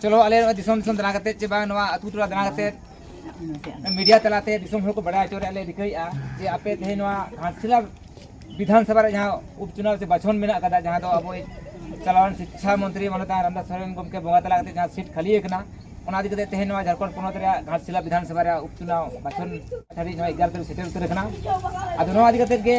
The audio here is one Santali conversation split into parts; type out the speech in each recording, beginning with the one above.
ᱪᱚᱞᱚ ᱟᱞᱮ ᱱᱚᱣᱟ ᱫᱤᱥᱚᱢ ᱫᱤᱥᱚᱢ ᱫᱟᱬᱟ ᱠᱟᱛᱮᱫ ᱪᱮ ᱵᱟᱝ ᱱᱚᱣᱟ ᱟᱛᱳ ᱴᱚᱞᱟ ᱫᱟᱬᱟ ᱠᱟᱛᱮᱫ ᱢᱤᱰᱤᱭᱟ ᱛᱟᱞᱟᱛᱮ ᱫᱤᱥᱚᱢ ᱦᱚᱲ ᱠᱚ ᱵᱟᱰᱟᱭ ᱦᱚᱪᱚ ᱨᱮᱭᱟᱜ ᱞᱮ ᱨᱤᱠᱟᱹᱭᱮᱫᱼᱟ ᱡᱮ ᱟᱯᱮ ᱛᱮᱦᱮᱧ ᱱᱚᱣᱟ ᱜᱷᱟᱴᱥᱤᱞᱟ ᱵᱤᱫᱷᱟᱱ ᱥᱚᱵᱷᱟ ᱨᱮ ᱡᱟᱦᱟᱸ ᱩᱯᱪᱩᱱᱟᱣ ᱥᱮ ᱵᱟᱪᱷᱚᱱ ᱢᱮᱱᱟᱜ ᱟᱠᱟᱫᱟ ᱡᱟᱦᱟᱸ ᱫᱚ ᱟᱵᱚᱭᱤᱡ ᱪᱟᱞᱟᱣᱮᱱ ᱥᱤᱠᱪᱷᱟ ᱢᱚᱱᱛᱨᱤ ᱢᱟᱱᱚᱛ ᱨᱟᱢᱫᱟᱥ ᱥᱚᱨᱮᱱ ᱜᱚᱢᱠᱮ ᱵᱚᱸᱜᱟ ᱛᱟᱞᱟ ᱠᱟᱛᱮᱫ ᱡᱟᱦᱟᱸ ᱥᱤᱴ ᱠᱷᱟᱹᱞᱤ ᱟᱠᱟᱱᱟ ᱚᱱᱟ ᱤᱫᱤ ᱠᱟᱛᱮᱫ ᱛᱮᱦᱮᱧ ᱱᱚᱣᱟ ᱡᱷᱟᱲᱠᱷᱚᱸᱰ ᱯᱚᱱᱚᱛ ᱨᱮᱭᱟᱜ ᱜᱷᱟᱴᱥᱤᱞᱟ ᱵᱤᱫᱷᱟᱱ ᱥᱚᱵᱷᱟ ᱨᱮᱭᱟᱜ ᱩᱯᱪᱩᱱᱟᱣ ᱵᱟᱪᱷᱚᱱ ᱫᱷᱟᱹᱵᱤᱡ ᱱᱚᱣᱟ ᱮᱜᱟᱨᱚ ᱛᱟᱹᱨᱤᱠᱷ ᱥᱮᱴᱮᱨ ᱩᱛᱟᱹᱨ ᱟᱠᱟᱱᱟ ᱟᱫᱚ ᱱᱚᱣᱟ ᱤᱫᱤ ᱠᱟᱛᱮᱫ ᱜᱮ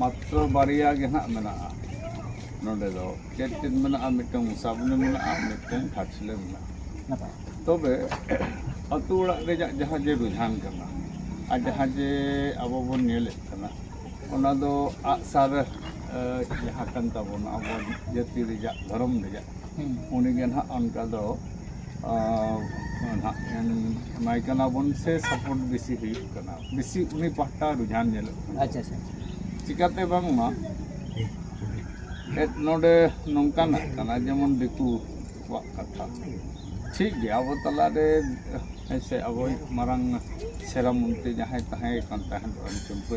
ᱢᱟᱛᱨᱚ ᱵᱟᱨᱭᱟ ᱜᱮ ᱦᱟᱸᱜ ᱢᱮᱱᱟᱜᱼᱟ ᱱᱚᱰᱮ ᱫᱚ ᱪᱮᱫ ᱪᱮᱫ ᱢᱮᱱᱟᱜᱼᱟ ᱢᱤᱫᱴᱟᱝ ᱢᱚᱥᱟᱵᱚᱱᱤ ᱢᱮᱱᱟᱜᱼᱟ ᱢᱤᱫᱴᱟᱝ ᱜᱷᱟᱴᱥᱤᱞᱟᱹ ᱢᱮᱱᱟᱜᱼᱟ ᱛᱚᱵᱮ ᱟᱹᱛᱩ ᱚᱲᱟᱜ ᱨᱮᱭᱟᱜ ᱡᱟᱦᱟᱸ ᱡᱮ ᱨᱩᱡᱷᱟᱱ ᱠᱟᱱᱟ ᱟᱨ ᱡᱟᱦᱟᱸ ᱡᱮ ᱟᱵᱚ ᱵᱚᱱ ᱧᱮᱞᱮᱫ ᱠᱟᱱᱟ ᱚᱱᱟ ᱫᱚ ᱟᱜᱼᱥᱟᱨ ᱡᱟᱦᱟᱸ ᱠᱟᱱ ᱛᱟᱵᱚᱱᱟ ᱟᱵᱚ ᱡᱟᱹᱛᱤ ᱨᱮᱭᱟᱜ ᱫᱷᱚᱨᱚᱢ ᱨᱮᱭᱟᱜ ᱩᱱᱤ ᱜᱮ ᱱᱟᱦᱟᱜ ᱚᱱᱠᱟ ᱫᱚ ᱱᱟᱦᱟᱜ ᱮᱢᱟᱭ ᱠᱟᱱᱟ ᱵᱚᱱ ᱥᱮ ᱥᱟᱯᱳᱨᱴ ᱵᱮᱥᱤ ᱦᱩᱭᱩᱜ ᱠᱟᱱᱟ ᱵᱮᱥᱤ ᱩᱱᱤ ᱯᱟᱦᱴᱟ ᱨᱩᱡᱷᱟᱱ ᱧᱮᱞᱚᱜ ᱠᱟᱱᱟ ᱟᱪᱪᱷᱟ ᱟᱪᱪᱷᱟ ᱪᱤᱠᱟᱛᱮ ᱵᱟᱝᱢᱟ ᱱᱚᱰᱮ ᱱᱚᱝᱠᱟᱱᱟᱜ ᱠᱟᱱᱟ ᱡᱮᱢᱚᱱ ᱫᱤᱠᱩ ᱠᱚᱣᱟᱜ ᱠᱟᱛᱷᱟ ᱴᱷᱤᱠ ᱜᱮᱭᱟ ᱟᱵᱚ ᱛᱟᱞᱟᱨᱮ ᱦᱮᱸᱥᱮ ᱟᱵᱚᱭᱤᱡ ᱢᱟᱨᱟᱝ ᱥᱮᱨᱟ ᱢᱚᱱᱛᱨᱤ ᱡᱟᱦᱟᱸᱭ ᱛᱟᱦᱮᱸ ᱠᱟᱱ ᱛᱟᱦᱮᱸᱫ ᱨᱟᱢᱪᱚᱱᱫᱨᱚ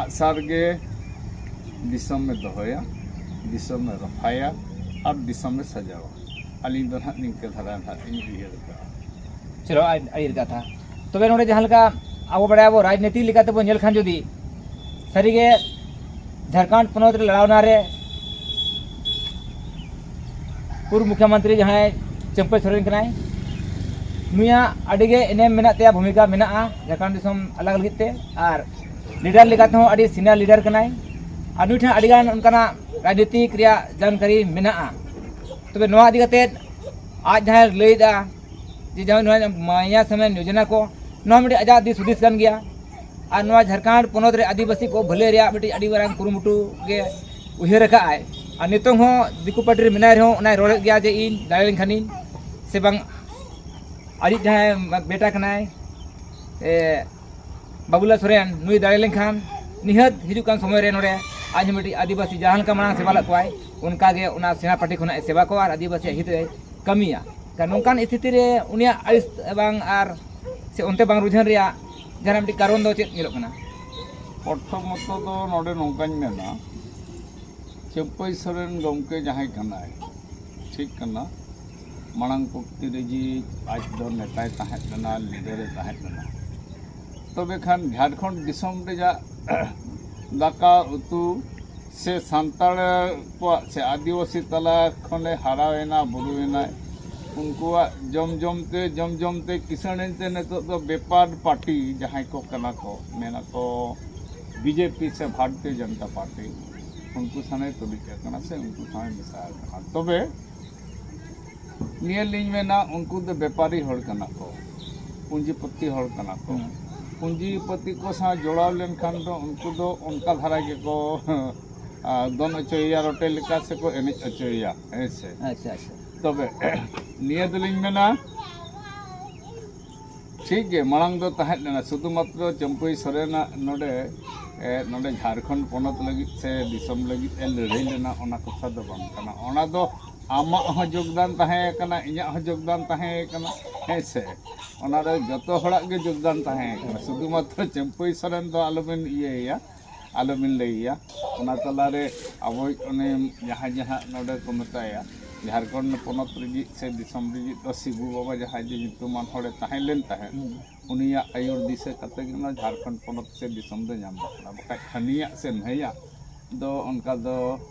ᱟᱜᱼᱥᱟᱨ ᱜᱮ ᱫᱤᱥᱚᱢ ᱮ ᱫᱚᱦᱚᱭᱟ ᱫᱤᱥᱚᱢ ᱮ ᱨᱚᱯᱷᱟᱭᱟ ᱟᱨ ᱫᱤᱥᱚᱢ ᱮ ᱥᱟᱡᱟᱣᱟ ᱟᱹᱞᱤᱧ ᱫᱚ ᱱᱟᱦᱟᱜ ᱱᱤᱝᱠᱟᱹ ᱫᱷᱟᱨᱟ ᱱᱟᱦᱟᱜ ᱞᱤᱧ ᱩᱭᱦᱟᱹᱨ ᱟᱠᱟᱫᱼᱟ ᱪᱚᱞᱚ ᱟᱹᱰᱤ ᱠᱟᱛᱷᱟ ᱛᱚᱵᱮ ᱱᱚᱰᱮ ᱡᱟᱦᱟᱸ ᱞᱮᱠᱟ ᱟᱵᱚ ᱵᱟᱲᱟᱭᱟᱵᱚ ᱨᱟᱡᱽᱱᱤᱛᱤ ᱞᱮᱠᱟᱛᱮ ᱵᱚ ᱧᱮᱞ ᱠᱷᱟᱱ ᱡᱩᱫᱤ ᱥᱟᱹᱨᱤᱜᱮ ᱡᱷᱟᱲᱠᱷᱚᱸᱰ ᱯᱚᱱᱚᱛ ᱨᱮ ᱞᱟᱲᱟᱣᱱᱟ ᱨᱮ ᱯᱩᱨᱵ ᱢᱩᱠᱷᱭᱚᱢᱚᱱᱛᱨᱤ ᱡᱟᱦᱟᱸᱭ ᱪᱟᱹᱢᱯᱟᱹᱭ ᱥᱚᱨᱮᱱ ᱠᱟᱱᱟᱭ ᱱᱩᱭᱟᱜ ᱟᱹᱰᱤᱜᱮ ᱮᱱᱮᱢ ᱢᱮᱱᱟᱜ ᱛᱟᱭᱟ ᱵᱷᱩᱢᱤᱠᱟ ᱢᱮᱱᱟᱜᱼᱟ ᱡᱷᱟᱲᱠᱷᱚᱸᱰ ᱫᱤᱥᱚᱢ ᱟᱞᱟᱜᱽ ᱞᱟᱹᱜᱤᱫ ᱛᱮ ᱟᱨ ᱞᱤᱰᱟᱨ ᱞᱮᱠᱟ ᱛᱮᱦᱚᱸ ᱟᱹᱰᱤ ᱥᱤᱱᱤᱭᱟᱨ ᱞᱤᱰᱟᱨ ᱠᱟᱱᱟᱭ ᱟᱨ ᱱᱩᱭ ᱴᱷᱮᱱ ᱟᱹᱰᱤᱜᱟᱱ ᱚᱱᱠᱟᱱᱟᱜ ᱨᱟᱡᱽᱱᱤᱛᱤᱠ ᱨᱮᱭᱟᱜ ᱡᱟᱱᱠᱟᱨᱤ ᱢᱮᱱᱟᱜᱼᱟ ᱛᱚᱵᱮ ᱱᱚᱣᱟ ᱤᱫᱤ ᱠᱟᱛᱮᱫ ᱟᱡ ᱡᱟᱦᱟᱸᱭ ᱞᱟᱹᱭᱫᱟ ᱡᱮ ᱡᱟᱦᱟᱸ ᱱᱚᱣᱟ ᱢᱟᱭᱟ ᱥᱟᱢᱟᱱ ᱡᱳᱡᱚᱱᱟ ᱠᱚ ᱱᱚᱣᱟ ᱢᱤᱫᱴᱤᱡ ᱟᱡᱟᱜ ᱫᱤᱥ ᱦᱩᱫᱤᱥ ᱠᱟᱱ ᱜᱮᱭᱟ ᱟᱨ ᱱᱚᱣᱟ ᱡᱷᱟᱲᱠᱷᱚᱸᱰ ᱯᱚᱱᱚᱛ ᱨᱮ ᱟᱹᱫᱤᱵᱟᱹᱥᱤ ᱠᱚ ᱵᱷᱟᱹᱞᱟᱹᱭ ᱨᱮᱭᱟᱜ ᱢᱤᱫᱴᱤᱡ ᱟᱹᱰᱤ ᱢᱟᱨᱟᱝ ᱠᱩᱨᱩᱢᱩᱴᱩ ᱜᱮ ᱩᱭᱦᱟᱹᱨ ᱟᱠᱟᱫ ᱟᱭ ᱟᱨ ᱱᱤᱛᱚᱝ ᱦᱚᱸ ᱫᱤᱠᱩ ᱯᱟᱹᱴᱤ ᱨᱮ ᱢᱮᱱᱟᱭ ᱨᱮᱦᱚᱸ ᱚᱱᱟᱭ ᱨᱚᱲᱮᱫ ᱜᱮᱭᱟ ᱡᱮ ᱤᱧ ᱫᱟᱲᱮ ᱞᱮᱱᱠᱷᱟᱱᱤᱧ ᱥᱮ ᱵᱟᱝ ᱟᱡᱤᱡ ᱡᱟᱦᱟᱸᱭ ᱵᱮᱴᱟ ᱠᱟᱱᱟᱭ ᱵᱟᱵᱩᱞᱟ ᱥᱚᱨᱮᱱ ᱱᱩᱭ ᱫᱟᱲᱮ ᱞᱮᱱᱠᱷᱟᱱ ᱱᱤᱦᱟᱹᱛ ᱦᱤᱡᱩᱜ ᱠᱟᱱ ᱥᱚᱢᱚᱭ ᱨᱮ ᱱᱚᱰᱮ ᱟᱡ ᱦᱚᱸ ᱢᱤᱫᱴᱤᱡ ᱟᱹᱫᱤᱵᱟᱹᱥᱤ ᱡᱟᱦᱟᱸ ᱞᱮᱠᱟ ᱢᱟᱲᱟᱝ ᱥᱮᱵᱟ ᱞᱮᱫ ᱠᱚᱣᱟᱭ ᱚᱱᱠᱟ ᱜᱮ ᱚᱱᱟ ᱥᱮᱬᱟ ᱯᱟᱹᱴᱤ ᱠᱷᱚᱱᱟᱜ ᱮ ᱥᱮᱵᱟ ᱠᱚᱣᱟ ᱟᱨ ᱟᱹᱫᱤᱵᱟᱹᱥᱤᱭᱟᱜ ᱦᱤᱛ ᱨᱮ ᱠᱟᱹᱢᱤᱭᱟ ᱠᱷᱟᱱ ᱱᱚᱝᱠᱟᱱ ᱥᱛᱷᱤᱛᱤ ᱨᱮ ᱩᱱᱤᱭᱟᱜ ᱟᱹᱲᱤᱥ ᱵᱟᱝ ᱟᱨ ᱥᱮ ᱚᱱᱛᱮ ᱵᱟᱝ ᱨᱩᱡᱷᱟᱹᱱ ᱨᱮᱭᱟᱜ ᱡᱟᱦᱟᱱᱟᱜ ᱢᱤᱫᱴᱤᱡ ᱠᱟᱨᱚᱱ ᱫᱚ ᱪᱮᱫ ᱧᱮᱞᱚᱜ ᱠᱟᱱᱟ ᱯᱨᱚᱛᱷᱚᱢᱚᱛᱚ ᱫᱚ ᱱᱚᱰᱮ ᱱᱚᱝᱠᱟᱧ ᱢᱮᱱᱟ ᱪᱟᱹᱯᱟᱹᱭ ᱥᱚᱨᱮᱱ ᱜᱚᱢᱠᱮ ᱡᱟᱦᱟᱸᱭ ᱠᱟᱱᱟᱭ ᱴᱷᱤᱠ ᱠᱟᱱᱟ ᱢᱟᱲᱟᱝ ᱯᱩᱠᱛᱤ ᱨᱮᱜᱮ ᱟᱡ ᱫᱚ ᱱᱮᱛᱟᱭ ᱛᱟᱦᱮᱸ ᱞᱮᱱᱟ ᱞᱤᱰᱟᱨ ᱮ ᱛᱟᱦᱮᱸ ᱞᱮᱱᱟ ᱛᱚᱵᱮ ᱠᱷᱟᱱ ᱡᱷᱟᱲᱠᱷᱚᱸᱰ ᱫᱤᱥᱚᱢ ᱨᱮᱭᱟᱜ ᱫᱟᱠᱟ ᱩᱛᱩ ᱥᱮ ᱥᱟᱱᱛᱟᱲ ᱠᱚᱣᱟᱜ ᱥᱮ ᱟᱹᱫᱤᱵᱟᱹᱥᱤ ᱛᱟᱞᱟ ᱠᱷᱚᱱᱮ ᱦᱟᱨᱟᱭᱮᱱᱟ ᱵᱩᱨᱩᱭᱮᱱᱟᱭ ᱩᱱᱠᱩᱣᱟᱜ ᱡᱚᱢ ᱡᱚᱢ ᱛᱮ ᱡᱚᱢ ᱡᱚᱢ ᱛᱮ ᱠᱤᱥᱟᱹᱬ ᱮᱱᱛᱮ ᱱᱤᱛᱚᱜ ᱫᱚ ᱵᱮᱯᱟᱨ ᱯᱟᱨᱴᱤ ᱡᱟᱦᱟᱸᱭ ᱠᱚ ᱠᱟᱱᱟ ᱠᱚ ᱢᱮᱱᱟᱠᱚ ᱵᱤᱡᱮᱯᱤ ᱥᱮ ᱵᱷᱟᱨᱚᱛᱤᱭᱚ ᱡᱚᱱᱚᱛᱟ ᱯᱟᱨᱴᱤ ᱩᱱᱠᱩ ᱥᱟᱶᱮ ᱛᱩᱞᱩᱡ ᱟᱠᱟᱱᱟ ᱥᱮ ᱩᱱᱠᱩ ᱥᱟᱶᱮ ᱢᱮᱥᱟ ᱟᱠᱟᱱᱟ ᱛᱚᱵᱮ ᱱᱤᱭᱟᱹ ᱞᱤᱧ ᱢᱮᱱᱟ ᱩᱱᱠᱩ ᱫᱚ ᱵᱮᱯᱟᱨᱤ ᱦᱚᱲ ᱠᱟᱱᱟ ᱠᱚ ᱯᱩᱸᱡᱤᱯᱚᱛᱤ ᱦᱚᱲ ᱠᱟᱱᱟ ᱠᱚ ᱯᱩᱸᱡᱤᱯᱚᱛᱤ ᱠᱚ ᱥᱟᱶ ᱡᱚᱲᱟᱣ ᱞᱮᱱᱠᱷᱟᱱ ᱫᱚ ᱩᱱᱠᱩ ᱫᱚ ᱚᱱᱠᱟ ᱫᱷᱟᱨᱟ ᱜᱮᱠᱚ ᱫᱚᱱ ᱦᱚᱪᱚᱭᱮᱭᱟ ᱨᱚᱴᱮ ᱞᱮᱠᱟ ᱥᱮᱠᱚ ᱮᱱᱮᱡ ᱦᱚᱪᱚᱭᱮᱭᱟ ᱦᱮᱸ ᱥᱮ ᱟᱪᱪᱷᱟ ᱟᱪᱪᱷᱟ ᱛᱚᱵᱮ ᱱᱤᱭᱟᱹ ᱫᱚᱞᱤᱧ ᱢᱮᱱᱟ ᱴᱷᱤᱠ ᱜᱮ ᱢᱟᱲᱟᱝ ᱫᱚ ᱛᱟᱦᱮᱸ ᱞᱮᱱᱟ ᱥᱩᱫᱷᱩ ᱢᱟᱛᱨᱚ ᱪᱟᱹᱢᱯᱟᱹᱭ ᱥᱚᱨᱮᱱᱟᱜ ᱱᱚᱰᱮ ᱱᱚᱰᱮ ᱡᱷᱟᱲᱠᱷᱚᱸᱰ ᱯᱚᱱᱚᱛ ᱞᱟᱹᱜᱤᱫ ᱥᱮ ᱫᱤᱥᱚᱢ ᱞᱟᱹᱜᱤᱫ ᱮ ᱞᱟᱹᱲᱦᱟᱹᱭ ᱞᱮᱱᱟ ᱚᱱᱟ ᱠᱟᱛᱷᱟ ᱫᱚ ᱵᱟᱝ ᱠᱟᱱᱟ ᱚᱱᱟ ᱫᱚ ᱟᱢᱟᱜ ᱦᱚᱸ ᱡᱳᱜᱽᱫᱟᱱ ᱛᱟᱦᱮᱸ ᱠᱟᱱᱟ ᱤᱧᱟᱹᱜ ᱦᱚᱸ ᱡᱳᱜᱽᱫᱟᱱ ᱛᱟᱦᱮᱸ ᱠᱟᱱᱟ ᱦᱮᱸ ᱥᱮ ᱚᱱᱟ ᱨᱮ ᱡᱚᱛᱚ ᱦᱚᱲᱟᱜ ᱜᱮ ᱡᱳᱜᱽᱫᱟᱱ ᱛᱟᱦᱮᱸ ᱠᱟᱱᱟ ᱥᱩᱫᱷᱩ ᱢᱟᱛᱨᱚ ᱪᱟᱹᱢᱯᱟᱹᱭ ᱥᱚᱨᱮᱱ ᱫᱚ ᱟᱞᱚ ᱵᱮᱱ ᱤᱭᱟᱹᱭᱮᱭᱟ ᱟᱞᱚ ᱵᱤᱱ ᱞᱟᱹᱭ ᱟᱭᱟ ᱚᱱᱟ ᱛᱟᱞᱟ ᱨᱮ ᱟᱵᱚᱭᱤᱡ ᱩᱱᱤ ᱡᱟᱦᱟᱸᱭ ᱡᱮ ᱦᱟᱸᱜ ᱱᱚᱰᱮ ᱠᱚ ᱢᱮᱛᱟᱭᱟ ᱡᱷᱟᱲᱠᱷᱚᱸᱰ ᱯᱚᱱᱚᱛ ᱨᱤᱱᱤᱡ ᱥᱮ ᱫᱤᱥᱚᱢ ᱨᱤᱱᱤᱡ ᱫᱚ ᱥᱤᱵᱩ ᱵᱟᱵᱟ ᱡᱟᱦᱟᱸᱭ ᱡᱮ ᱧᱩᱛᱩᱢᱟᱱ ᱦᱚᱲᱮ ᱛᱟᱦᱮᱸ ᱞᱮᱱ ᱛᱟᱦᱮᱸᱫ ᱩᱱᱤᱭᱟᱜ ᱟᱹᱭᱩᱨ ᱫᱤᱥᱟᱹ ᱠᱟᱛᱮ ᱜᱮ ᱱᱚᱣᱟ ᱡᱷᱟᱲᱠᱷᱚᱸᱰ ᱯᱚᱱᱚᱛ ᱥᱮ ᱫᱤᱥᱚᱢ ᱫᱚ ᱧᱟᱢ ᱟᱠᱟᱱᱟ ᱵᱟᱠᱷᱟᱡ ᱦᱟᱹᱱᱤᱭᱟᱜ ᱥᱮ ᱱᱟᱹᱭᱟᱜ ᱫᱚ ᱚᱱᱠᱟ ᱫᱚ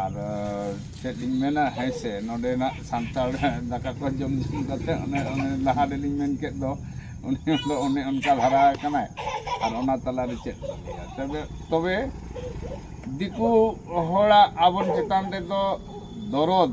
ᱟᱨ ᱪᱮᱫ ᱤᱧ ᱢᱮᱱᱟ ᱦᱮᱸ ᱥᱮ ᱱᱚᱰᱮᱱᱟᱜ ᱥᱟᱱᱛᱟᱲ ᱫᱟᱠᱟ ᱠᱚ ᱡᱚᱢ ᱡᱚᱢ ᱠᱟᱛᱮᱫ ᱚᱱᱮ ᱚᱱᱮ ᱞᱟᱦᱟ ᱨᱮᱞᱤᱧ ᱢᱮᱱ ᱠᱮᱫ ᱫᱚ ᱩᱱᱤ ᱫᱚ ᱚᱱᱮ ᱚᱱᱠᱟ ᱫᱷᱟᱨᱟ ᱟᱠᱟᱱᱟᱭ ᱟᱨ ᱚᱱᱟ ᱛᱟᱞᱟ ᱨᱮ ᱪᱮᱫ ᱵᱚᱱ ᱞᱟᱹᱭᱟ ᱛᱚᱵᱮ ᱛᱚᱵᱮ ᱫᱤᱠᱩ ᱦᱚᱲᱟᱜ ᱟᱵᱚ ᱪᱮᱛᱟᱱ ᱨᱮᱫᱚ ᱫᱚᱨᱚᱫᱽ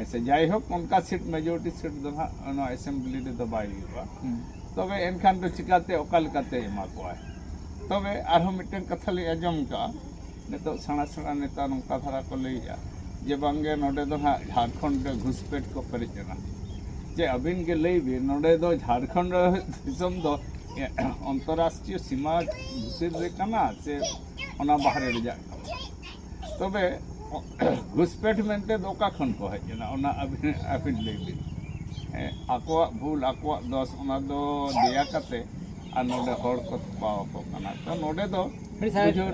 ᱟᱪᱪᱷᱟ ᱡᱟᱭᱦᱳᱠ ᱚᱱᱠᱟ ᱥᱤᱴ ᱢᱮᱡᱚᱨᱤᱴᱤ ᱥᱤᱴ ᱫᱚ ᱦᱟᱸᱜ ᱱᱚᱣᱟ ᱮᱥᱮᱢᱵᱞᱤ ᱨᱮᱫᱚ ᱵᱟᱭ ᱦᱩᱭᱩᱜᱼᱟ ᱛᱚᱵᱮ ᱮᱱᱠᱷᱟᱱ ᱫᱚ ᱪᱤᱠᱟᱛᱮ ᱚᱠᱟ ᱞᱮᱠᱟᱛᱮ ᱮᱢᱟ ᱠᱚᱣᱟᱭ ᱛᱚᱵᱮ ᱟᱨᱦᱚᱸ ᱢᱤᱫᱴᱮᱱ ᱠᱟᱛᱷᱟ ᱞᱤᱧ ᱟᱸᱡᱚᱢ ᱠᱟᱜᱼᱟ ᱱᱤᱛᱚᱜ ᱥᱮᱬᱟ ᱥᱮᱬᱟ ᱱᱮᱛᱟ ᱱᱚᱝᱠᱟ ᱫᱷᱟᱨᱟ ᱠᱚ ᱞᱟᱹᱭᱮᱜᱼᱟ ᱡᱮ ᱵᱟᱝᱜᱮ ᱱᱚᱰᱮ ᱫᱚ ᱦᱟᱸᱜ ᱡᱷᱟᱲᱠᱷᱚᱸᱰ ᱨᱮ ᱜᱷᱩᱥᱯᱮᱴ ᱠᱚ ᱯᱮᱨᱮᱡ ᱮᱱᱟ ᱡᱮ ᱟᱹᱵᱤᱱ ᱜᱮ ᱞᱟᱹᱭ ᱵᱤᱱ ᱱᱚᱰᱮ ᱫᱚ ᱡᱷᱟᱲᱠᱷᱚᱸᱰ ᱫᱤᱥᱚᱢ ᱫᱚ ᱚᱱᱛᱚᱨᱨᱟᱥᱴᱨᱤᱭᱚ ᱥᱤᱢᱟᱹ ᱵᱷᱤᱛᱤᱨ ᱨᱮ ᱠᱟᱱᱟ ᱥᱮ ᱚᱱᱟ ᱵᱟᱦᱨᱮ ᱨᱮᱭᱟᱜ ᱠᱟᱱᱟ ᱛᱚᱵᱮ ᱜᱷᱩᱥᱯᱮᱴ ᱢᱮᱱᱛᱮ ᱫᱚ ᱚᱠᱟ ᱠᱷᱚᱱ ᱠᱚ ᱦᱮᱡ ᱮᱱᱟ ᱚᱱᱟ ᱟᱹᱵᱤᱱ ᱟᱹᱵᱤᱱ ᱞᱟᱹᱭ ᱵᱤᱱ ᱟᱠᱚᱣᱟᱜ ᱵᱷᱩᱞ ᱟᱠᱚᱣᱟᱜ ᱫᱚᱥ ᱚᱱᱟ ᱫᱚ ᱫᱮᱭᱟ ᱠᱟᱛᱮ ᱟᱨ ᱱᱚᱰᱮ ᱦᱚᱲ ᱠᱚ ᱛᱷᱚᱯᱟᱣ ᱟᱠᱚ ᱠᱟᱱᱟ ᱛᱚ ᱱᱚᱰᱮ ᱫᱚ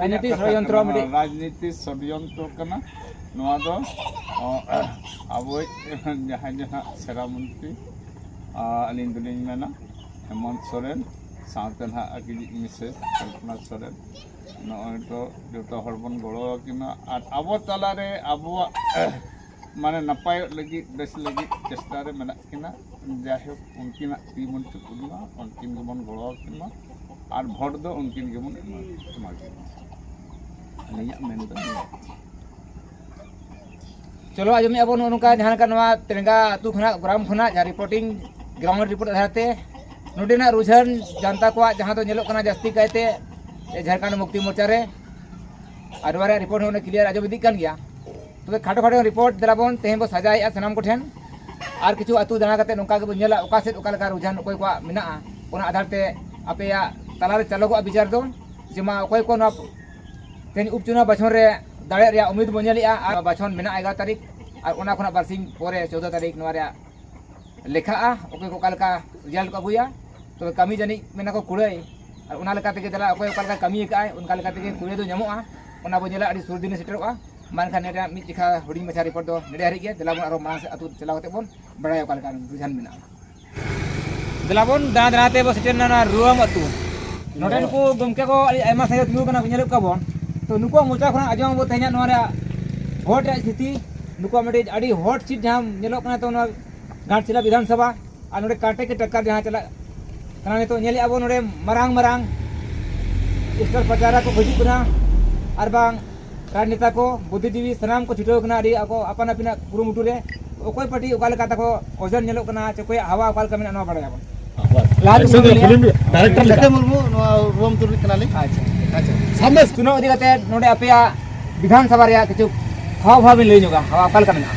ᱨᱟᱡᱽᱱᱤᱛᱤ ᱥᱚᱲᱭᱚᱱᱛᱨᱚ ᱨᱟᱡᱽᱱᱤᱛᱤ ᱥᱚᱲᱭᱚᱱᱛᱨᱚ ᱠᱟᱱᱟ ᱱᱚᱣᱟ ᱫᱚ ᱟᱵᱚᱭᱤᱡ ᱡᱟᱦᱟᱸᱭ ᱫᱚ ᱦᱟᱸᱜ ᱥᱮᱨᱟ ᱢᱚᱱᱛᱨᱤ ᱟᱹᱞᱤᱧ ᱫᱚᱞᱤᱧ ᱢᱮᱱᱟ ᱦᱮᱢᱚᱱᱛ ᱥᱚᱨᱮᱱ ᱥᱟᱶᱛᱮ ᱱᱟᱦᱟᱜ ᱟᱹᱠᱤᱱᱤᱡ ᱢᱤᱥᱮᱥ ᱠᱚᱞᱯᱚᱱᱟ ᱥᱚᱨᱮᱱ ᱱᱚᱜᱼᱚᱭ ᱛᱚ ᱡᱚᱛᱚ ᱦᱚᱲ ᱵᱚᱱ ᱜᱚᱲᱚ ᱟᱹᱠᱤᱱᱟ ᱟᱨ ᱟᱵᱚ ᱛᱟᱞᱟᱨᱮ ᱟᱵᱚᱣᱟᱜ ᱢᱟᱱᱮ ᱱᱟᱯᱟᱭᱚᱜ ᱞᱟᱹᱜᱤᱫ ᱵᱮᱥ ᱞᱟᱹᱜᱤᱫ ᱪᱮᱥᱴᱟ ᱨᱮ ᱢᱮᱱᱟᱜ ᱠᱤᱱᱟ ᱡᱟᱭᱦᱳᱠ ᱩᱱᱠᱤᱱᱟᱜ ᱛᱤ ᱵᱚᱱ ᱪᱩᱯᱩᱫ ᱢᱟ ᱩᱱᱠᱤᱱ ᱜᱮᱵᱚᱱ ᱜᱚᱲᱚ ᱟᱹᱠᱤᱱ ᱢᱟ ᱟᱨ ᱵᱷᱳᱴ ᱫᱚ ᱩᱱᱠᱤᱱ ᱜᱮᱵᱚᱱ ᱮᱢᱟ ᱮᱢᱟ ᱠᱤᱱ ᱢᱟ ᱟᱹᱞᱤᱧᱟᱜ ᱢᱮᱱ ᱫᱚ ᱱᱤᱭᱟᱹ ᱪᱚᱞᱚ ᱟᱸᱡᱚᱢᱮᱫᱼᱟ ᱵᱚᱱ ᱱᱚᱜᱼᱚ ᱱᱚᱝᱠᱟ ᱡᱟᱦᱟᱸ ᱞᱮᱠᱟ ᱱᱚᱣᱟ ᱛᱮᱨᱮᱝᱜᱟ ᱟᱹᱛᱩ ᱠᱷᱚᱱᱟᱜ ᱜᱨᱟᱢ ᱠᱷᱚᱱᱟᱜ ᱡᱟᱦᱟᱸ ᱨᱤᱯᱳᱴᱤᱝ ᱜᱨᱟᱣᱩᱱᱰ ᱨᱤᱯᱳᱴ ᱟᱫᱷᱟᱨ ᱛᱮ ᱱᱚᱰᱮᱱᱟᱜ ᱨᱩᱡᱷᱟᱹᱱ ᱡᱟᱱᱛᱟ ᱠᱚᱣᱟᱜ ᱡᱟᱦᱟᱸ ᱫᱚ ᱧᱮᱞᱚᱜ ᱠᱟᱱᱟ ᱡᱟᱹᱥᱛᱤ ᱠᱟᱭᱛᱮ ᱡᱷᱟᱲᱠᱷᱚᱸᱰ ᱢᱩᱠᱛᱤ ᱢᱳᱨᱪᱟ ᱨᱮ ᱟᱨ ᱱᱚᱣᱟ ᱨᱮᱭᱟᱜ ᱨᱤᱯᱳᱨᱴ ᱦᱚᱸ ᱚᱱᱮ ᱠᱞᱤᱭᱟᱨ ᱟᱸᱡᱚᱢ ᱤᱫᱤᱜ ᱠᱟᱱ ᱜᱮᱭᱟ ᱛᱚᱵᱮ ᱠᱷᱟᱴᱚ ᱠᱷᱟᱴᱚ ᱨᱤᱯᱳᱨᱴ ᱫᱮᱞᱟ ᱵᱚᱱ ᱛᱮᱦᱮᱧ ᱵᱚᱱ ᱥᱟᱡᱟᱣᱮᱫᱼᱟ ᱥᱟᱱᱟᱢ ᱠᱚᱴᱷᱮᱱ ᱟᱨ ᱠᱤᱪᱷᱩ ᱟᱹᱛᱩ ᱫᱟᱬᱟ ᱠᱟᱛᱮ ᱱᱚᱝᱠᱟ ᱜᱮᱵᱚᱱ ᱧᱮᱞᱟ ᱚᱠᱟ ᱥᱮᱫ ᱚᱠᱟ ᱞᱮᱠᱟ ᱨᱩᱡᱷᱟᱱ ᱚᱠᱚᱭ ᱠᱚᱣᱟᱜ ᱢᱮᱱᱟᱜᱼᱟ ᱚᱱᱟ ᱟᱫᱷᱟᱨ ᱛᱮ ᱟᱯᱮᱭᱟᱜ ᱛᱟᱞᱟᱨᱮ ᱪᱟᱞᱚᱜᱚᱜᱼᱟ ᱵᱤᱪᱟᱹᱨ ᱫᱚ ᱡᱮ ᱢᱟ ᱚᱠᱚᱭ ᱠᱚ ᱱᱚᱣᱟ ᱛᱮᱦᱮᱧ ᱩᱯᱪᱩᱱᱟᱣ ᱵᱟᱪᱷᱚᱱ ᱨᱮ ᱫᱟᱲᱮᱜ ᱨᱮᱭᱟᱜ ᱩᱢᱤᱫ ᱵᱚᱱ ᱧᱮᱞᱮᱜᱼᱟ ᱟᱨ ᱵᱟᱪᱷᱚᱱ ᱢᱮᱱᱟᱜᱼᱟ ᱮᱜᱟᱨᱚ ᱛᱟᱹᱨᱤᱠᱷ ᱟᱨ ᱚᱱᱟ ᱠᱷᱚᱱᱟᱜ ᱵᱟᱨᱥᱤᱧ ᱯᱚᱨᱮ ᱪᱳᱫᱽᱫᱚ ᱛᱟᱹᱨᱤᱠᱷ ᱱᱚᱣᱟ ᱨᱮᱭᱟᱜ ᱞᱮᱠᱷᱟᱜᱼᱟ ᱚᱠᱚᱭ ᱠᱚ ᱚᱠᱟ ᱞᱮᱠᱟ ᱨᱮᱡᱟᱞᱴ ᱠᱚ ᱟᱹᱜᱩᱭᱟ ᱛᱚᱵᱮ ᱠᱟᱹᱢᱤ ᱡᱟᱹᱱᱤᱡ ᱢᱮᱱᱟ ᱠᱚ ᱠᱩᱲᱟᱹᱭ ᱟᱨ ᱚᱱᱟ ᱞᱮᱠᱟ ᱛᱮᱜᱮ ᱫᱮᱞᱟ ᱚᱠᱚᱭ ᱚᱠᱟ ᱞᱮᱠᱟᱭ ᱠᱟᱹᱢᱤ ᱟᱠᱟᱫᱼᱟᱭ ᱚᱱᱠᱟ ᱞᱮᱠᱟ ᱛᱮᱜᱮ ᱠᱩᱲᱟᱹᱭ ᱫᱚ ᱧᱟᱢᱚᱜᱼᱟ ᱚᱱᱟ ᱵᱚᱱ ᱧᱮᱞᱟ ᱟᱹᱰᱤ ᱥᱩᱨ ᱫᱤᱱ ᱨᱮ ᱥᱮᱴᱮᱨᱚᱜᱼᱟ ᱢᱟ ᱮᱱᱠᱷᱟᱱ ᱱᱤᱭᱟᱹ ᱨᱮᱭᱟᱜ ᱢᱤᱫ ᱪᱮᱠᱷᱟ ᱦᱩᱰᱤᱧ ᱢᱟᱪᱷᱟ ᱨᱤᱯᱳᱨᱴ ᱫᱚ ᱱᱮᱰᱮ ᱦᱟᱹᱨᱤᱡ ᱜᱮ ᱫᱮᱞᱟ ᱵᱚᱱ ᱟᱨᱚ ᱢᱟᱲᱟᱝ ᱥᱮᱫ ᱟᱹᱛᱩ ᱪᱟᱞᱟᱣ ᱠᱟᱛᱮᱫ ᱵᱚᱱ ᱵᱟᱲᱟᱭᱟ ᱚᱠᱟ ᱞᱮᱠᱟ ᱨᱩᱡᱷᱟᱱ ᱢᱮᱱᱟᱜᱼᱟ ᱫᱮᱞᱟᱵᱚᱱ ᱫᱟᱬᱟ ᱫᱟᱬᱟ ᱛᱮ ᱵᱚᱱ ᱥᱮᱴᱮᱨ ᱮᱱᱟ ᱨᱩᱣᱟᱹᱢ ᱟᱹᱛᱩ ᱱᱚᱰᱮ ᱱᱩᱠᱩ ᱜᱚᱢᱠᱮ ᱠᱚ ᱟᱹᱰᱤ ᱟᱭᱢᱟ ᱥᱟᱸᱜᱮ ᱛᱤᱸᱜᱩ ᱠᱟᱱᱟ ᱧᱮᱞᱮᱫ ᱠᱚᱣᱟ ᱵᱚᱱ ᱛᱚ ᱱᱩᱠᱩᱣᱟᱜ ᱢᱚᱪᱟ ᱠᱷᱚᱱᱟᱜ ᱟᱸᱡᱚᱢ ᱟᱵᱚ ᱛᱮᱦᱮᱧᱟᱜ ᱱᱚᱣᱟ ᱨᱮᱭᱟᱜ ᱦᱚᱴ ᱨᱮᱭᱟᱜ ᱥᱛᱷᱤᱛᱤ ᱱᱩᱠᱩᱣᱟᱜ ᱢᱤᱫᱴᱤᱡ ᱟᱹᱰᱤ ᱦᱚᱴ ᱥᱤᱴ ᱡᱟᱦᱟᱸ ᱧᱮᱞᱚᱜ ᱠᱟᱱᱟ ᱛᱚ ᱱᱚᱣᱟ ᱜᱷᱟᱴᱥᱤᱞᱟ ᱵᱤᱫᱷᱟᱱ ᱥᱚᱵᱷᱟ ᱟᱨ ᱱᱚᱰᱮ ᱠᱟᱴᱮ ᱠᱮ ᱴᱟᱠᱠᱟᱨ ᱡᱟᱦᱟᱸ ᱪᱟᱞᱟᱜ ᱠᱟᱱᱟ ᱱᱤᱛᱚᱜ ᱧᱮᱞᱮᱫ ᱟᱵᱚ ᱱᱚᱰᱮ ᱢᱟᱨᱟᱝ ᱢᱟᱨᱟᱝ ᱥᱴᱚᱞ ᱯᱟᱪᱟᱨᱟ ᱠᱚ ᱦᱤᱡᱩᱜ ᱠᱟᱱᱟ ᱟᱨ ᱵᱟᱝ ᱨᱟᱡᱽ ᱱᱮᱛᱟ ᱠᱚ ᱵᱩᱫᱷᱤ ᱡᱤᱵᱤ ᱥᱟᱱᱟᱢ ᱠᱚ ᱪᱷᱩᱴᱟᱹᱣ ᱠᱟᱱᱟ ᱟᱹᱰᱤ ᱟᱠᱚ ᱟᱯᱟᱱ ᱟᱹᱯᱤᱱᱟᱜ ᱠᱩᱨᱩᱢᱩᱴᱩ ᱨᱮ ᱚᱠᱚᱭ ᱯᱟᱴᱤ ᱚᱠᱟ ᱞᱮᱠᱟ ᱛᱟᱠᱚ ᱚᱡᱚᱱ ᱧᱮᱞᱚᱜ ᱠᱟᱱᱟ ᱪᱮ ᱚᱠᱚᱭᱟᱜ ᱦᱟᱣᱟ ᱚᱠᱟ ᱞᱮᱠᱟ ᱢᱮᱱᱟᱜᱼᱟ ᱱᱚᱣᱟ ᱵᱟᱲᱟᱭᱟᱵᱚᱱ ᱰᱟᱭᱨᱮᱠᱴᱚᱨ ᱢᱩᱨᱢᱩ ᱱᱚᱣᱟ ᱨᱩᱣᱟᱹᱢ ᱛᱩᱨᱤᱡ ᱠᱟᱱᱟᱞᱤᱧ ᱟᱪᱪᱷᱟ ᱟᱪᱪᱷᱟ ᱥᱟᱢᱱᱮ ᱪᱩᱱᱟᱣ ᱤᱫᱤ ᱠᱟᱛᱮ ᱱᱚᱰᱮ ᱟᱯᱮᱭᱟᱜ ᱵᱤᱫᱷᱟᱱ ᱥᱚᱵᱷᱟ ᱨᱮᱭᱟᱜ ᱠᱤᱪᱷᱩ ᱦᱟᱣ ᱵᱷᱟᱣ ᱵᱤᱱ ᱞᱟᱹᱭ ᱧᱚᱜᱟ ᱦᱟᱣᱟ ᱚᱠᱟ ᱞᱮᱠᱟ ᱢᱮᱱᱟᱜᱼᱟ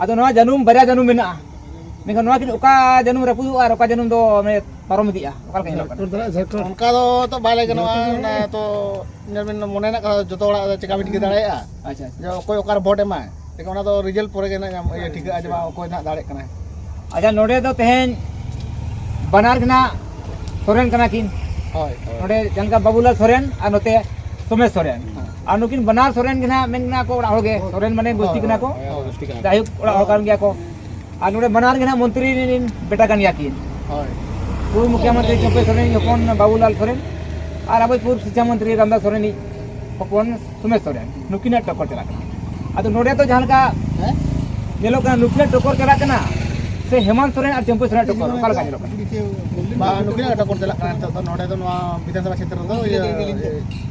ᱟᱫᱚ ᱱᱚᱣᱟ ᱡᱟᱹᱱᱩᱢ ᱵᱟᱨᱭᱟ ᱡᱟᱹᱱᱩᱢ ᱢᱮᱱᱟᱜᱼᱟ ᱢᱮᱱᱠᱷᱟᱱ ᱱᱚᱣᱟ ᱠᱤᱱ ᱚᱠᱟ ᱡᱟᱹᱱᱩᱢ ᱨᱟᱹᱯᱩᱫᱚᱜᱼᱟ ᱟᱨ ᱚᱠᱟ ᱡᱟᱹᱱᱩᱢ ᱫᱚ ᱢᱟᱱᱮ ᱯᱟᱨᱚᱢ ᱤᱫᱤᱜᱼᱟ ᱚᱠᱟ ᱞᱮᱠᱟ ᱧᱮᱞᱚᱜ ᱠᱟᱱᱟ ᱚᱱᱠᱟ ᱫᱚ ᱛᱚ ᱵᱟᱭ ᱞᱟᱹᱭ ᱜᱟᱱᱚᱜᱼᱟ ᱚᱱᱟ ᱛᱚ ᱧᱮᱞ ᱵᱤᱱ ᱢᱚᱱᱮ ᱨᱮᱱᱟᱜ ᱠᱟᱛᱷᱟ ᱡᱚᱛᱚ ᱦᱚᱲᱟᱜ ᱪᱮᱠᱟ ᱵᱤᱱ ᱴᱷᱤᱠᱟᱹ ᱫᱟᱲᱮᱭᱟᱜᱼᱟ ᱟᱪᱪᱷᱟ ᱡᱮ ᱚᱠᱚᱭ ᱚᱠᱟᱨᱮ ᱵᱷᱳᱴ ᱮᱢᱟᱭ ᱞᱮᱠᱤᱱ ᱚᱱᱟ ᱫᱚ ᱨᱮᱡᱟᱞᱴ ᱯᱚᱨᱮ ᱜᱮ ᱱᱟᱜ ᱤᱭᱟᱹ ᱴᱷᱤᱠᱟᱹᱜᱼᱟ ᱡᱮ ᱵᱟᱝ ᱚᱠᱚᱭ ᱱᱟᱜ ᱫᱟᱲᱮᱜ ᱠᱟᱱᱟᱭ ᱟᱪᱪᱷᱟ ᱱᱚᱰᱮ ᱫᱚ ᱛᱮᱦᱮᱧ ᱵᱟᱱᱟᱨ ᱜᱮ ᱱᱟᱜ ᱥᱚᱨᱮᱱ ᱠᱟᱱᱟ ᱠᱤᱱ ᱦᱳᱭ ᱱᱚᱰᱮ ᱡᱟᱦᱟᱸ ᱞᱮᱠᱟ ᱵᱟᱵᱩᱞᱟᱞ ᱥᱚᱨᱮᱱ ᱟᱨ ᱱᱚᱛᱮ ᱥᱚᱢᱮᱥ ᱥᱚᱨᱮᱱ ᱟᱨ ᱱᱩᱠᱤᱱ ᱵᱟᱱᱟᱨ ᱥᱚᱨᱮᱱ ᱜᱮ ᱱᱟᱦᱟᱜ ᱢᱮᱱ ᱢᱮᱱᱟᱜ ᱠᱚ ᱚᱲᱟᱜ ᱦᱚᱲ ᱜᱮ ᱥᱚᱨᱮᱱ ᱢᱟᱱᱮ ᱜᱩᱥᱴᱤ ᱠᱟᱱᱟ ᱠᱚ ᱡᱟᱭᱦᱳᱠ ᱚᱲᱟᱜ ᱦᱚᱲ ᱠᱟᱱ ᱜᱮᱭᱟ ᱠᱚ ᱟᱨ ᱱᱚᱰᱮ ᱵᱟᱱᱟᱨ ᱜᱮ ᱱᱟᱦᱟᱜ ᱢᱚᱱᱛᱨᱤ ᱨᱤᱱ ᱵᱮᱴᱟ ᱠᱟᱱ ᱜᱮᱭᱟ ᱠᱤᱱ ᱯᱩᱨᱵ ᱢᱩᱠᱷᱭᱟᱢᱚᱱᱛᱨᱤ ᱪᱚᱯᱮ ᱥᱚᱨᱮᱱ ᱦᱚᱯᱚᱱ ᱵᱟᱵᱩᱞᱟᱞ ᱥᱚᱨᱮᱱ ᱟᱨ ᱟᱵᱚ ᱯᱩᱨᱵ ᱥᱤᱠᱷᱟ ᱢᱚᱱᱛᱨᱤ ᱨᱟᱢᱫᱟᱥ ᱥᱚᱨᱮᱱ ᱦᱚᱯᱚᱱ ᱥᱩᱢᱮᱥ ᱥᱚᱨᱮᱱ ᱱᱩᱠᱤᱱᱟᱜ ᱴᱚᱠᱚᱨ ᱪᱟᱞᱟᱜ ᱠᱟᱱᱟ ᱟᱫᱚ ᱱᱚᱰᱮ ᱫᱚ ᱡᱟᱦᱟᱸ ᱞᱮᱠᱟ ᱧᱮᱞᱚᱜ ᱠᱟᱱᱟ ᱱᱩᱠᱤᱱᱟᱜ ᱴᱚᱠᱚᱨ ᱪᱟᱞᱟᱜ ᱠᱟᱱᱟ ᱥᱮ ᱦᱮᱢᱟᱱᱛ ᱥᱚᱨᱮᱱ ᱟᱨ ᱪᱚᱢᱯᱩ ᱥᱚᱨᱮᱱ ᱴᱚᱠᱚᱨ ᱚᱠᱟ ᱞᱮᱠᱟ ᱧᱮᱞᱚᱜ ᱠᱟᱱᱟ ᱱᱩᱠᱤᱱᱟᱜ ᱴᱚᱠᱚᱨ ᱪᱟᱞᱟᱜ ᱠᱟᱱᱟ ᱱᱤᱛᱚᱜ ᱫᱚ ᱱᱚᱰᱮ ᱫᱚ ᱱᱚᱣᱟ ᱵᱤᱫᱷᱟᱱᱥᱚᱵᱷᱟ ᱠᱷᱮᱛᱨᱚ ᱫᱚ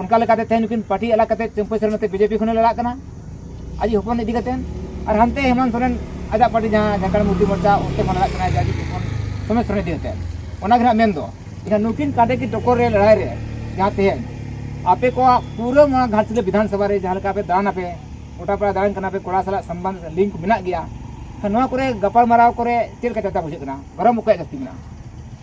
ᱚᱱᱠᱟ ᱞᱮᱠᱟᱛᱮ ᱛᱮᱦᱮᱧ ᱱᱩᱠᱤᱱ ᱯᱟᱨᱴᱤ ᱟᱞᱟᱜᱽ ᱠᱟᱛᱮ ᱪᱟᱹᱢᱯᱟᱹᱭ ᱥᱚᱨᱮᱱ ᱱᱚᱛᱮ ᱵᱤᱡᱮᱯᱤ ᱠᱷᱚᱱᱮ ᱞᱟᱲᱟᱜ ᱠᱟᱱᱟ ᱟᱡ ᱦᱚᱯᱚᱱ ᱤᱫᱤ ᱠᱟᱛᱮ ᱟᱨ ᱦᱟᱱᱛᱮ ᱦᱮᱢᱟᱱᱛ ᱥᱚᱨᱮᱱ ᱟᱡᱟᱜ ᱯᱟᱨᱴᱤ ᱡᱟᱦᱟᱸ ᱡᱷᱟᱲᱠᱷᱚᱸᱰ ᱢᱩᱠᱛᱤ ᱢᱳᱨᱪᱟ ᱚᱱᱛᱮ ᱠᱷᱚᱱ ᱞᱟᱲᱟᱜ ᱠᱟᱱᱟ ᱟᱡ ᱦᱚᱯᱚᱱ ᱥᱚᱢᱮᱛ ᱥᱚᱨᱮᱱ ᱤᱫᱤ ᱠᱟᱛᱮ ᱚᱱᱟ ᱜᱮ ᱦᱟᱸᱜ ᱢᱮᱱ ᱫᱚ ᱮᱱᱠᱷᱟᱱ ᱱᱩᱠᱤᱱ ᱠᱟᱰᱮ ᱠᱤ ᱴᱚᱠᱚᱨ ᱨᱮ ᱞᱟᱲᱟᱭ ᱨᱮ ᱡᱟᱦᱟᱸ ᱛᱮᱦᱮᱧ ᱟᱯᱮ ᱠᱚᱣᱟᱜ ᱯᱩᱨᱟᱹ ᱱᱚᱣᱟ ᱜᱷᱟᱴᱥᱤᱞᱟᱹ ᱵᱤᱫᱷᱟᱱ ᱥᱚᱵᱷᱟ ᱨᱮ ᱡᱟᱦᱟᱸ ᱞᱮᱠᱟ ᱯᱮ ᱫᱟᱬᱟᱱ ᱟᱯᱮ ᱜᱚᱴᱟ ᱯᱟᱲᱟ ᱫᱟᱬᱟᱱ ᱠᱟᱱᱟ ᱯᱮ ᱠᱚᱲᱟ ᱥᱟᱞᱟᱜ ᱥᱚᱢᱵᱟᱱ ᱞᱤᱝᱠ ᱢᱮᱱᱟᱜ ᱜᱮᱭᱟ ᱱᱚᱣᱟ ᱠᱚᱨᱮ ᱜᱟᱯᱟᱞᱢᱟᱨᱟᱣ ᱠᱚᱨᱮ ᱪᱮᱫ ᱞᱮᱠᱟ ᱪᱟᱛᱟ ᱵᱩᱡᱷᱟᱹᱜ ᱠᱟᱱᱟ ᱜᱚᱨᱚᱢ ᱚᱠᱚᱭᱟᱜ ᱡᱟᱹᱥᱛᱤ ᱢᱮᱱᱟᱜᱼᱟ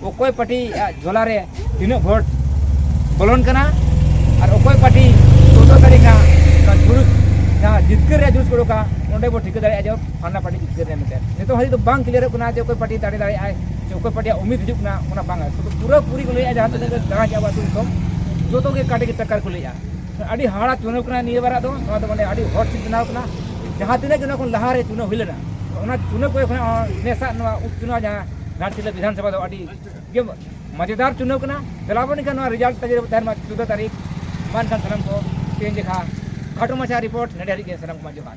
ᱚᱠᱚᱭ ᱯᱟᱴᱤ ᱟᱜ ᱡᱷᱚᱞᱟ ᱨᱮ ᱛᱤᱱᱟᱹᱜ ᱵᱷᱳᱴ ᱵᱚᱞᱚᱱ ᱠᱟᱱᱟ ᱟᱨ ᱚᱠᱚᱭ ᱯᱟᱴᱤ ᱪᱳᱫᱽᱫᱚ ᱛᱟᱹᱨᱤᱠᱷ ᱦᱟᱸᱜ ᱚᱱᱟ ᱡᱩᱞᱩᱥ ᱡᱟᱦᱟᱸ ᱡᱤᱛᱠᱟᱹᱨ ᱨᱮᱭᱟᱜ ᱡᱩᱞᱩᱥ ᱠᱚ ᱩᱰᱩᱠᱟ ᱚᱸᱰᱮ ᱵᱚ ᱴᱷᱤᱠᱟᱹ ᱫᱟᱲᱮᱭᱟᱜᱼᱟ ᱡᱮ ᱯᱷᱟᱞᱱᱟ ᱯᱟᱴᱤ ᱡᱤᱛᱠᱟᱹᱨ ᱮᱱᱟᱭ ᱢᱮᱱᱛᱮ ᱱᱤᱛᱚᱜ ᱦᱟᱹᱵᱤᱡ ᱫᱚ ᱵᱟᱝ ᱠᱞᱤᱭᱟᱨᱚᱜ ᱠᱟᱱᱟ ᱡᱮ ᱚᱠᱚᱭ ᱯᱟᱴᱤ ᱫᱟᱲᱮ ᱫᱟᱲᱮᱭᱟᱜ ᱟᱭ ᱥᱮ ᱚᱠᱚᱭ ᱯᱟᱴᱤᱭᱟᱜ ᱩᱢᱤᱫ ᱦᱤᱡᱩᱜ ᱠᱟᱱᱟ ᱚᱱᱟ ᱵᱟᱝᱟ ᱥᱩᱫᱷᱩ ᱯᱩᱨᱟᱹ ᱯᱩᱨᱤ ᱠᱚ ᱞᱟᱹᱭᱮᱫᱼᱟ ᱡᱟᱦᱟᱸ ᱛᱤᱱᱟᱹᱜ ᱜᱮ ᱫᱟᱬᱟ ᱠᱮᱫᱼᱟ ᱟᱵᱚ ᱟᱹᱛᱩ ᱫᱤᱥᱚᱢ ᱡᱚᱛᱚ ᱜᱮ ᱠᱟᱴᱮ ᱜᱮ ᱴᱟᱠᱟᱨ ᱠᱚ ᱞᱟᱹᱭᱮᱫᱼᱟ ᱟᱹᱰᱤ ᱦᱟᱦᱟᱲᱟ ᱪᱩᱱᱟᱹᱣ ᱠᱟᱱᱟ ᱱᱤᱭᱟᱹ ᱵᱟᱨᱟᱜ ᱫᱚ ᱱᱚᱣᱟ ᱫᱚ ᱢᱟᱱᱮ ᱟᱹᱰᱤ ᱦᱚᱴ ᱥᱤᱴ ᱵᱮᱱᱟᱣ ᱠᱟᱱᱟ ᱡᱟᱦᱟᱸ ᱛᱤᱱᱟᱹᱜ ᱜᱮ ᱱᱚᱣᱟ ᱠᱷᱚᱱ ᱞᱟᱦᱟᱨᱮ ᱪᱩᱱᱟᱹᱣ ᱦᱩᱭ ᱞᱮᱱᱟ ᱚᱱᱟ ᱪᱩᱱᱟᱹᱣ ᱠᱚᱨᱮ ᱠᱷᱚᱱᱟᱜ ᱦᱚᱸ ᱱᱮᱥᱟᱜ ᱱᱚᱣᱟ ᱩᱯ ᱪᱩᱱᱟᱣ ᱡᱟᱦᱟᱸ ᱜᱷᱟᱴᱥᱤᱞᱟᱹ ᱵᱤᱫᱷᱟᱱ ᱥᱚᱵᱷᱟ ᱫᱚ ᱟᱹᱰᱤ ᱜᱮ ᱢᱟᱡᱮᱫᱟᱨ ᱪᱩᱱᱟᱹᱣ ᱠᱟᱱᱟ ᱫᱮᱞᱟ ᱵᱚᱱ ᱮᱱᱠᱷᱟᱱ ᱱᱚᱣᱟ ᱨᱮᱡᱟᱞᱴ ᱛᱟᱹᱜᱤ ᱨᱮᱵᱚᱱ ᱛᱟᱦᱮᱱ ᱢᱟ ᱪᱳᱫᱫᱳ ᱛᱟᱹᱨᱤᱠᱷ ᱢᱟ ᱮᱱᱠᱷᱟᱱ ᱥᱟᱱᱟᱢ ᱠᱚ ᱛᱮᱦᱮᱧ ᱞᱮᱠᱟ ᱠᱷᱟᱴᱚ ᱢᱟᱪᱷᱟ ᱨᱤᱯᱳᱨᱴ ᱱᱚᱰᱮ ᱦᱟᱹᱨᱤᱡ ᱜᱮ ᱥᱟᱱᱟᱢ ᱠᱚᱢᱟ ᱡᱚᱦᱟᱨ